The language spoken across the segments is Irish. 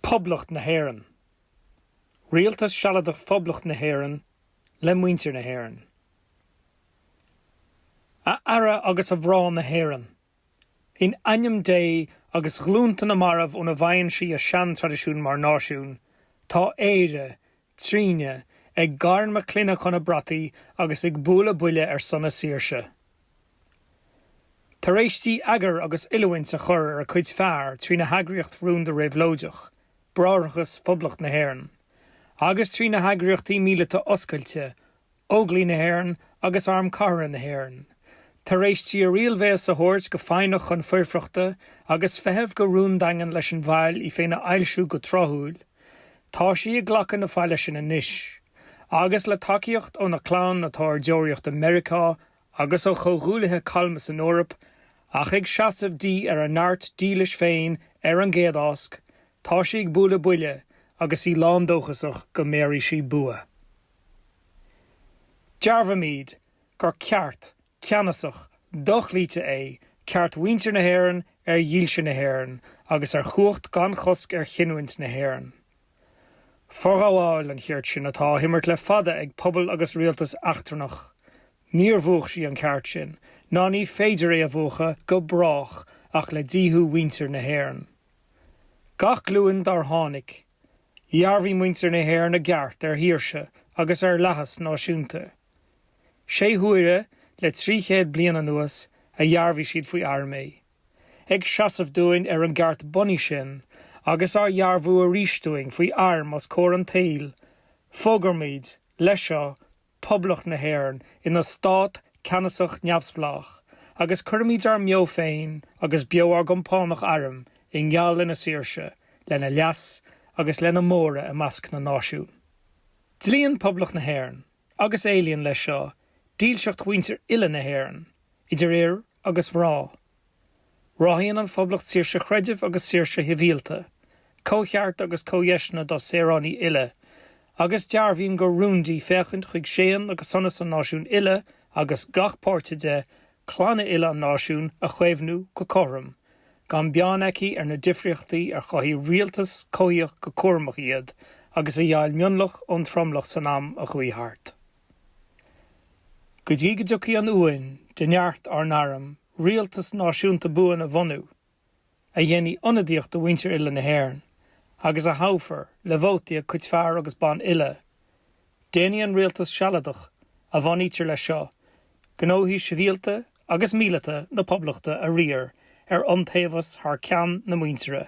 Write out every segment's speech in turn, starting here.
Poblacht na hÉireann. Rialtas Sealadach Phoblacht na hÉireann le muintir na hÉireann. A fheara agus a mhná na hÉireann. In ainm Dé agus ghlúnta na marbh óna bhfaigheann sí a seantraidisiún mar náisiún, tá Éire trínne, ag gairm a clainne chun a brataí agus ag bualadh buille ar son a saoirse. Tar éis di eagar agus oiliúint a chur ar a cuid fear trína heagraíocht rúnda réabhlóideach, Bráithreachas Phoblacht na hÉireann, agus trína heagraíochtaí míleata oscailte, Óglaigh na hÉireann agus Arm Cathartha na hÉireann, tar éis di a riailbhéas a thabhairt go foighneach chun foirfeachta agus feitheamh go rúndaingean leis an bhfaill í féin a fhoilsiú go tráthúil. Tá sí ag glacadh na faille sin anois, agus le tacaíocht óna clann atá ar deoraíocht i Meiriceá agus ó chomhghuaillithe calma san Eoraip, ach ag seasamh di ar a neart dílis féin ar an gcéad ásc, tá sí ag bualadh buille agus í lándóchasach go mbéarfaidh sí bua. Dearbhaímid gur ceart ceannasach dochloíte é ceart mhuintir na hÉireann ar dhílse na hÉireann agus ar chumhacht gan chosc ar chinniúint na hÉireann. Forghabháil an chirt sin atá á himirt le fada ag pobal agus rialtas eachtrannach. Níor mhúch sí an ceart sin, ná ní féidir é a mhúchadh go brách ach le díothú mhuintir na hÉireann. Gach glúin dár tháinig, Dhearbhaigh muintir na hÉireann a gceart ar shaoirse agus ar fhlaitheas náisiúnta. Sé huaire le trí chéad bliain anuas a dhearbhaigh siad faoi airm é. Ag seasamh dúinn ar an gceart bunaidh sin, agus á dhearbhú arís dúinn faoi airm os comhair an tsaoil, fógraímid, leis seo, Poblacht na hÉireann ina stát ceannasach neamhspleách agus cuirimid ár mbeo féin agus beo ár gcompánach airm i ngeall lena saoirse, lena leas agus lena móradh i measc na náisiún. Dlíonn Poblacht na hÉireann, agus éilíonn leis seo, dílseacht mhuintir uile na hÉireann, idir fhir agus mhná. Ráthaíonn an Phoblacht saoirse chreidimh agus saoirse shibhialta, comhchearta agus comhdheiseanna dá saoránaigh uile, agus dearbhaíonn gur rún di féachaint chuig séan agus sonas an náisiúin uile agus gach páirte de, clanna uile an náisiúin, a chaomhnú go cothrom, gan beann aici ar na difríochtaí ar chothaigh rialtas coimhthíoch go cúramach iad agus a dheighil mionlach ón tromlach san am a chuaigh thart. Go dtí go dtiocfaidh an uain de neart ár n-arm rialtas náisiúnta buan a bhunú, a dhéanfaidh ionadaíocht do mhuintir uile na hÉireann, agus a thoghfar le vótaí a cuid fear agus ban uile, déanfaidh an Rialtas Sealadach a bhunaítear leis seo gnóthaí sibhialta agus míleata na Poblachta a riar ar iontaobhas thar ceann na muintire.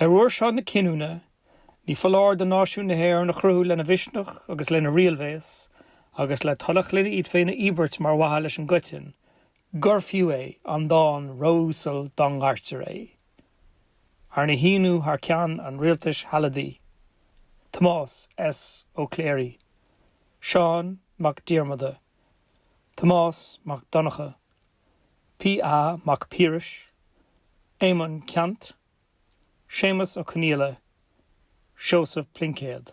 Ar uair seo na cinniúna, ní foláir do náisiún na hÉireann a chruthú lena mhisneach agus lena riailbhéas, agus le toil a chlainne iad féin a íobairt mar mhaithe leis an gcoiteann, gur fiú é an dán ró-uasal dá ngairtear é, arna shíniú thar ceann an Rialtais Shealadaigh, Tomás S. Ó Cléirigh, Seán Mac Diarmada, Tomás Mac Donnchadha. P.A. Mac Piarais, Éamonn Ceannt, Séamus Ó Conghaile, Seosamh Pluincéad.